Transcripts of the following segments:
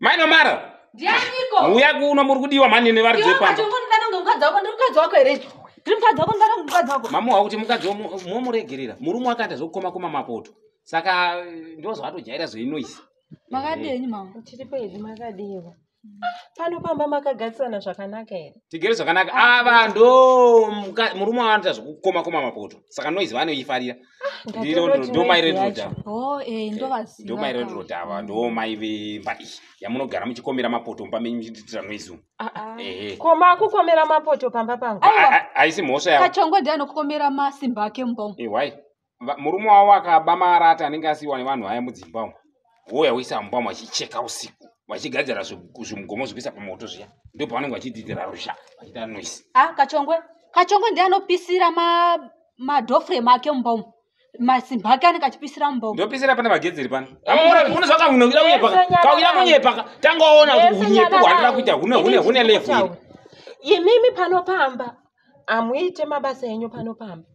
mai nomara ndianiko uya kuno muri kudiwa mani nevari dzepaatongondanongemukadzi wako ndiri mukadzi wako here ndiri mukadzi wako ndara mukadzi wako mamuha kuti mukadzi momuregerera murume wakaita zvokukoma kuma mapoto saka eh, ndozvatojaira zveinoisi makadini mama tiri pedzi makadiwa pano pamba makagarisana zvakanaka here tigere zvakanaka ava ndo murume wavanoita zvokukoma kuma mapoto saka noizi vanoifarira ndomairedroda oh, eh, eh, ava ndo mai vemba iyi yamunogara muchikomera mapoto mumba menyu muchitiitira noise umu ah, ah. eh, ko makukomera mapoto pamba pangu haisi mhosva yakachongodi anokukomera masimba ake mumba umu murume wavo akaba marata anenge asiiwa nevanhu vaya mudzimba umu wouya woisa mumba machicheka usiku vachigadzira zvimugomo zvekuisa pamoto zviya ndo pavanenge vachidzidzira ruzha vachiita noise a ah, kachongwe kachongwe ndiye anopisira madofre make mumba umu masimba ake anenge achipisira mumba umu ndopisira pana magedzeri pano unozvaka unoira kunyepaka kauira kunyepaka tangaona kuti unyepi hwandira kuita hune hune hune level imimi pano pamba hamuite mabasa enyu pano pamba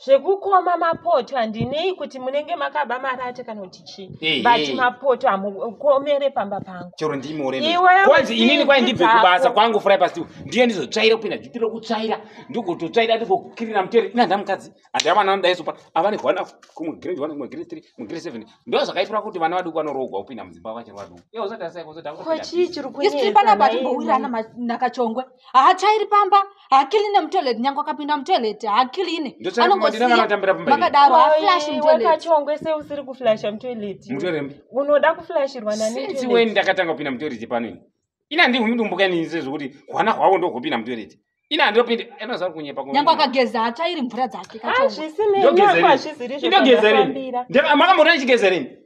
zvekukoma mapoto handinei kuti munenge makaba marate kana kuti chii but mapoto hamukomere pamba pangu chero ndimorkwanzi inini kwai ndibve kubasa kwangu furai pasi ndiye ndizotsvaira kupinda juti rokutsvaira ndigototsvaira ndigokukirira mutere ina ndamukadzi handi avana vandaizopa avane hwana kumugrade one kumugrade three mugrade seven ndo zvakaitira kuti vana vaduku vanoroogwa kupinda mudzimba vachiri vaduku iye usatarisaikozotakuchii chiri kuisi panapa timbowirana nakachongwe haachairi pamba haakiline mutoilet nyange akapinda mutoilet haakiline anongosimakadaro haflash mutoiletkachongwe se usiri kuflasha mutoilet mutorembi unoda kuflashirwa naniwe ndakatanga kupinda mutoilet pano ini ina ndihumidumbuka inini sezvokuti hwana hwavo ndohupinda mutoilet ini handopindi anoziva kunyepa nyange akageza hatsvairi mvura dzake kachondogeza rini makamboona ndichigeza rini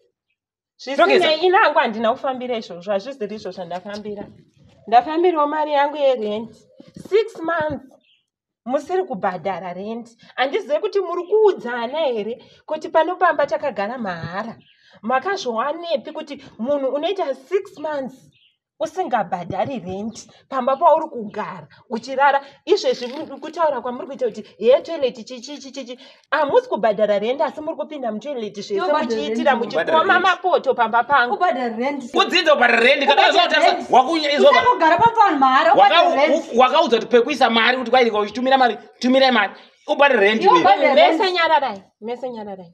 zvisinei ini hangu handina kufambira izvozvo hazviziri izvo zvandafambira ndafambirawo mari yangu yerent six months musiri kubhadhara rent handizive kuti muri kuudzana here kuti pano pamba takagara mahara makazviwanepi kuti munhu unoita six months usingabhadhari rendi pamba pauri kugara uchirara izvezvi kutaura kwamuri kuita kuti hee toileti chichichichichi hamusi kubhadhara rendi asi muri kupinda mutoileti zvese muchiitira muchikoma mapoto pamba pangu kudzidza kubhadhara rendi wakaudza kuti pekuisa mari kuti kwaika uchitumira mari tumirai mari ubhadhara rendi mese nyararai mese nyararai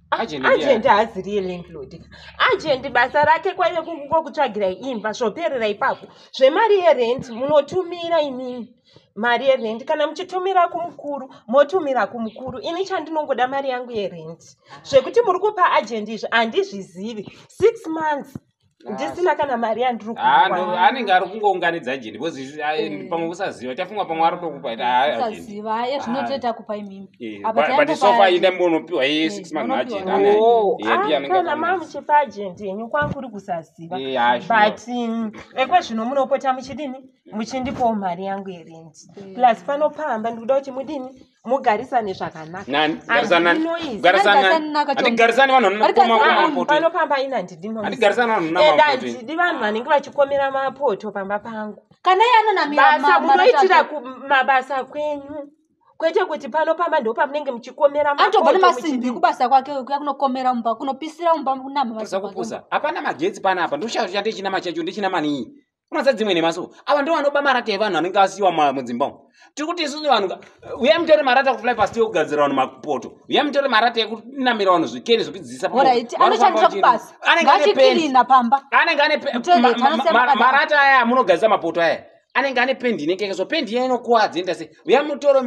agent haazi real landlord agent basa rake kwaive kungokutsvagira imba zvoperera ipapo zvemari yerent munotumira inini mari yerent kana muchitumira kumukuru motumira kumukuru ini chandinongoda mari yangu yerent zvekuti muri kupa agent izvi handizvizivi six months ndisina kana mari yandiri ah, kuwa anenge ari kungounganidza jini because ah, eh, eh. pamwe kusaziva tafunga pamwe ari tokupa itasaziva ah, aye zvinotoita kupa imimi eh, but sofa inde mbonopiwa iye six month agent anekana mamuchipa agent yenyu kwanga kuri kusaziva but mm, ekwe zvino munopota muchidini muchindipawo mari yangu yerendi plus panopamba ndikuda kuti mudini mugarisane zvakanakaatigarisani vanhuvanopamba ina handidi vanhu vanenge vachikomera mapoto pamba pangu kana yanonamibasa munoitira kumabasa kwenyu kwete kuti pano pamba ndo pamunenge muchikomera atobva nemasimbi kubasa kwake kuya kunokomera mumba kunopisira mumba kunamaakupusa hapana magetsi panapa ndoshaa chandichinama chacho ndichinamanii unoza dzimwe nemaso ava ndo vanoba marata evanhu anenge asiyiwa mudzimba umu tiri kuti isusu vanhu uyai mutore marata kufly past yokugadzira vanhu mapoto uyai mutore marata ekunamira vanhu zvikeni zvekudzidzisa marata aya amunogadzisa mapoto aya anenge ane pendi inenge yakaiswa pendi iya inokuwadza enda sei uya mutore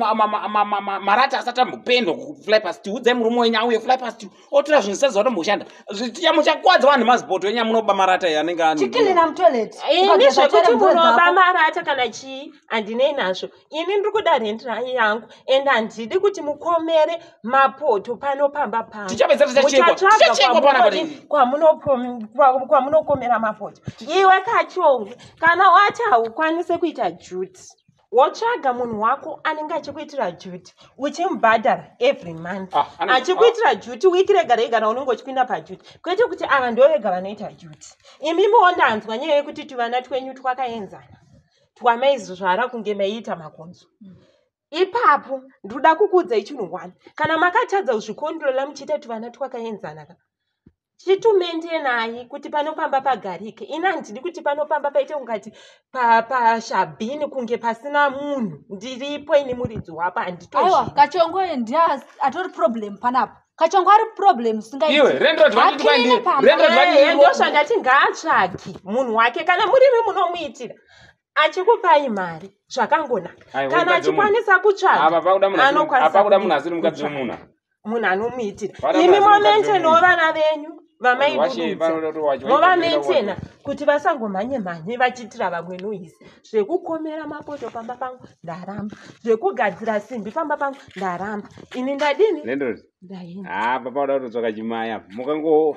marata asati ambopendwa kufly past udzai murume wenyu auye fly past otora zvinhu zvisati zvatomukushanda zvichamuchakwadza vanhu mazipoto enya munoba marata iye anenge achikelera mutoilet eh, ini zvekuti munoba marata kana chii handinei nazvo ini ndiri kuda rendi yangu and handidi kuti mukomere mapoto pano pamba panokwammunokomera mapoto iwe kachongwe kana wati haukwanise kuita juti wotsvaga munhu wako anenge achikuitira duty uchimubhadhara every month ah, achikuitira ah. duty wiki rega rega na unenge uchipinda paduty kwete kuti ava ndo vega vanoita duty imimiwo ndanzwa nyaya yekuti tuvana twenyu twakaenzana twamaizvara kunge maiita makonzo mm. ipapo ndinoda kukuudzai chinhu one kana makatadza kuzvikontrola muchiita tuvana twakaenzana ka chitumente nayi kuti pano pamba pagarike ini handidi kuti pano pamba paite kungati pashabhini pa kunge pasina munhu ndiripo ini muridzi wapo handitoaiwa kachongo ndiye atori problem panapa kachongo ari problem singaiendosvangati ngaatsvagi munhu wake kana murimi munomuitira achikupai mari zvakangonaka Ayi, kana mukadzi wemunhu. achikwanisa Apa kutsvaga pakuda munhu asiri- anokwanisa apa kuda munhu kudii? asiri mukadzi Kutsvaga. wemunhu munhu anomuitira Vana imi mukadzi momaintainawo mukadzi vana venyu Vanhu vashe, vamai vanhu vacho- vacho- movamaintaina vacho- kuti vasangomhanye mhanye vachiitira vamwe noise zvekukomera mapoto pamba pangu ndaramba zvekugadzira simbi pamba pangu ndaramba ini ndadini Landlord, ndaenda apa pakuda kutotsvaka chimaya mukango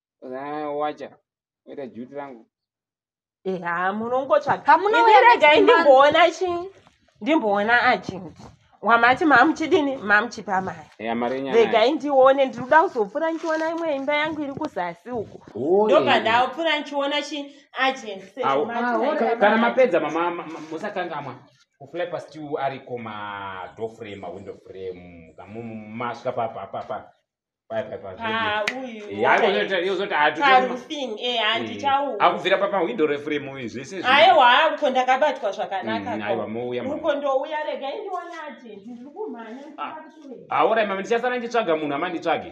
wacha oita juti rangu eha eh, munongotsvakamunoregai ndimboona chi ndimboona agent wamati mamuchidini mamuchipa mari regai ndione ndiri kuda kuzopfura ndichiona imwe imba yangu iri kuzasi uku ndobva ndapfura ndichiona chi agent kana mapedza musakangamwa kuflapa still ariko madoor frame mawindow frame masvika papapapa akubvira papahwindo refremu uyu zvese aiwa uko ndakabatwa zvakanakauko ndouya regai ndionati ndiri kumhanya aorai mama ndichasara ndichitsvaga munhu amanditsvage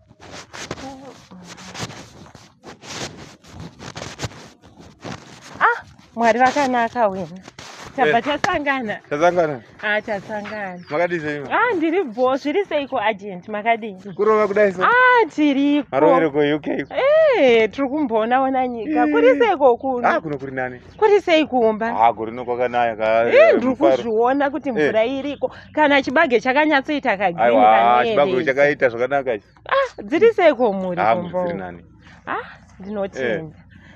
ah mwari vakanaka wena tabva eh. tasangana tasangana ah tasangana makadii sei ah ndiri bho zviri seiko agent makadii kurova kudai so ah tiriko arovereko uk eh tiri kumboona ona nyika kuri seiko kuno ah kuno kuri nani kuri sei kuomba ah, kurino kwakanaya eh, eh, ndiri kuzviona kuti eh. mvura iriko kana chibage chakanyatsoita kagrinchibage chakaita zvakanaka ah, dziri sei kwomuri ah, ah, ndinotenda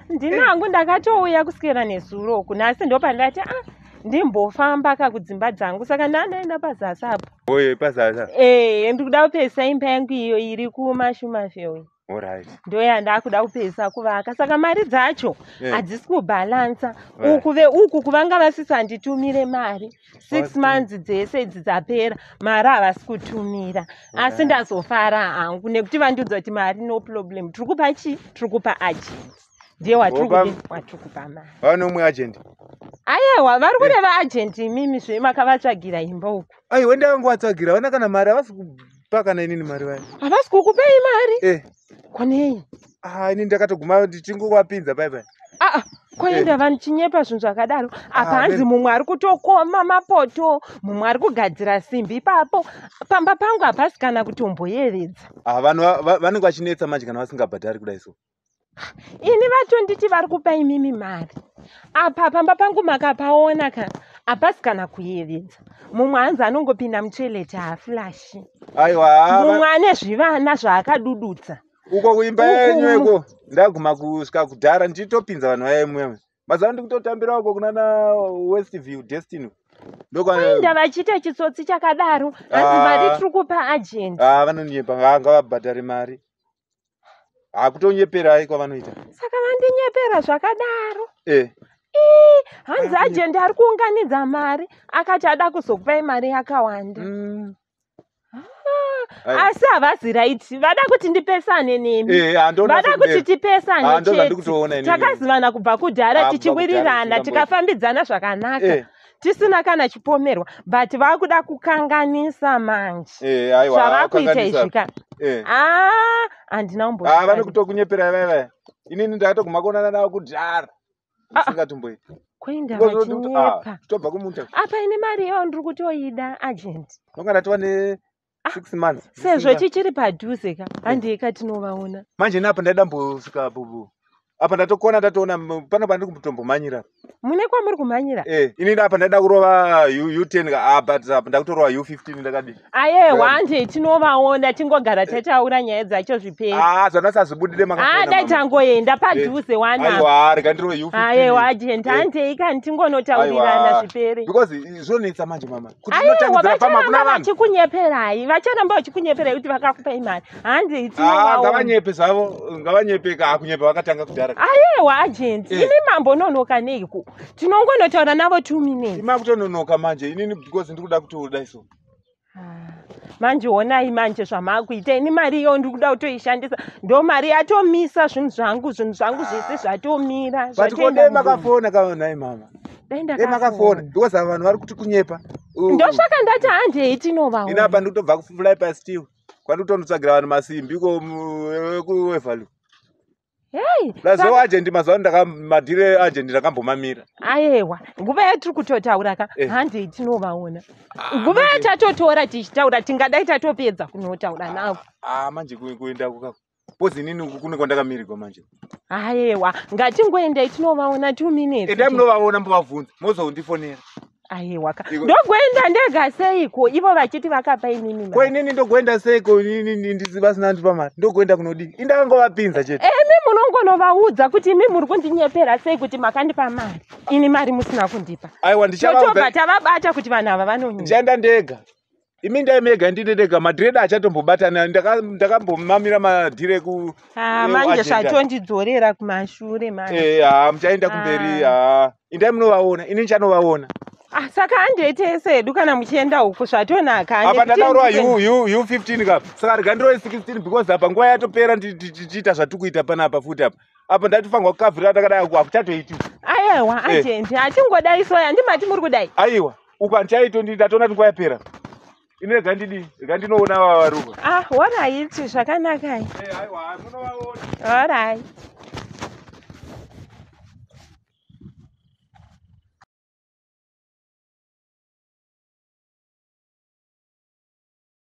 ndinangu ndakatouya kuswera nezuro uku nhasi ndo pandati ah ndimbofamba ka kudzimba dzangu saka ndandaenda pazasi apo oye pazasi ee ndikuda kupesa imba yangu iyo iri kumashumashewe ndoyandakuda kupedzisa kuvaka saka mari dzacho eh. hadzisi kubhalansa uku veuku kuvanga vasisanditumire mari six months dzese idzi dzapera mari havasi kutumira asi ndazofara hangu nekuti vandiudza kuti mari no problem tiri kupa chii tiri kupa agent ndiye watiri kupa mari vanomwe agent ayewa vari kureva agent imimi zve makavatsvagira imba uku aiwe ndavangovatsvagira vana kana mari havasi Kupa kana inini mari vaya. Havasi kukupei mari? Eh. Kwanei? Ah, ini ndakatoguma ndichingovapinza bye bye. Ah, ah. koenda eh. vanhu chinyepa zvinhu zvakadaro ah, apa hanzi mumwe ari kutokoma mapoto mumwe ari kugadzira simbi ipapo pamba pangu hapasi kana kutomboyevedza ah, vanhu vanenge vachinetsa manje kana vasingabhadhari kudai so ini vatonditi vari kupa imimi mari apa pamba pangu makapaona ka hapasi kana kuyevedza mumwe hanzi anongopinda mutoilet haaflashi mumwe ane zvivana zvaakadudutsa uko kuimba yenyu iko ndaguma kusvika kudhara ndichitopinza vanhu vaye mwewe mazava ndikutotambira uko kunana west view destiny ndokuenda vachiita chitsotsi chakadaro hanzi ah. mari tiri kupa agent ah, vanonyepa ngavabhadhare mari hakutonyeperai kwavanoita saka vandinyepera zvakadaro eh. hanzi ajendi ari kuunganidza mari akati ada kuzokupai mari yakawanda mm. Ah, asi havazi raiti vada kuti ndipesane nemi eh, vada kuti tipesane ah, chete takazivana kubva kudhara ah, tichiwirirana tikafambidzana zvakanaka eh. tisina kana chipomerwa but vakuda kukanganisa manje eh, zvavakuita izvika eh. ah, handina umbo ah, vane kutokunyepera vavaya inini ndakatoguma kuonana navo kudhara ah, isingatomboi kuenda vachinyepa tobva kumunta apa ine mari iyo ndiri kutoida agent ndonga ndatova ne Ah, six months sezvo chichiri padhuze ka handei ka tinovaona manje ini apa ndaida mbosvika bubu apa ndatokona ndatoona m- pano pandiri kumbotombomhanyira mune kwamuri kumhanyira eh ini apa ndaida kurova u u ten ka ah but apa ndakutorova u fifteen ndakadii ayewa Well- handei tinovaona tingogara tataura nyaya dzacho zviperi ah zvanasazvibudire haa dai tangoenda padhuze wana aiwa rega ndirove u ayewa agent handei kani tingonotaurirana zviperi because zvonetsa manje mama aiwa vachiramba vachikunyeperai vachiramba vachikunyeperai kuti vakakupai mari handigavanyebe ah, zvavo ngavanyepe kaakunyeba vakatanga kudhara aiwa agent eh. imi mambononoka neiko tinongonotaura navo two minutes imakutononoka manje inini because ndiri kuda kutooda iso ah, manje onai manje zvamakuita ini mari iyo ndiri kuda kutoishandisa ndo mari yatomisa zvinhu zvangu zvinhu zvangu zvese zvatomira zvatikodei makafona kaonai mama dai ndakafona makafona because ava vanhu vari kuti kunyepa ndosvaka ndati handei tinovaona ina apa ndikutobva kufly pasi tiwo kwati kutonotsvagira vanhu masimbi ko kuevalu hei lazo ajendi mazuva ano ndakamadhire ajendi ndakambomamira ayewa nguva yatiri kutotaura ka eh. handei tinovaona ah, nguva yatatotora tichitaura tingadai tatopedza kunotaura ah, navo ah, manje kuendako kako Kozi inini uku kune kwandakamirirwa manje. Ayewa, ngatingoendai tinovaona two minutes. Endai munovaona mbovavhunza, mozondifonera. Ayewa ka. Iko- Ndogoenda ndega seiko ivo vachiti vakapa inini Ko mari. inini ndogoenda seiko inini ndi- ndisi vasina andipa mari. Ndogoenda kunodii? Indakangovapinza chete. Imi munongonovaudza kuti imi muri kundinyepera sei kuti makandipa mari. Ini mari musina kundipa. Aiwa Totobva ndichavabva tavabata kuti vanhu ava vanonyanya. ndichaenda ndega. imi ndai mega ndine ndega madhireda achatombobatana ndakambomamira madhire eku ah, manje zvatondidzorera kumashure manje eh, ha muchaenda kumberi ah. ha indai munovaona ini ndichanovaona Ah, saka andiitese hedu kana muchienda uku zvatonaka apa ndataurwa u 15 ka saka rega ndiroi 16 because apa nguva yatopera tichiita zvatikuita panapa futi apa apa ndatifanirwa kukavhirira takadai hakuchatoiti aiwa eh. ajendi hatingodai soya ndimati muri kudai aiwa uku handichaito ndini ndatoona kuti nguva yapera ini rega ndidii rega ndinoona vava varuva ah horaiti zvakanakai horaiti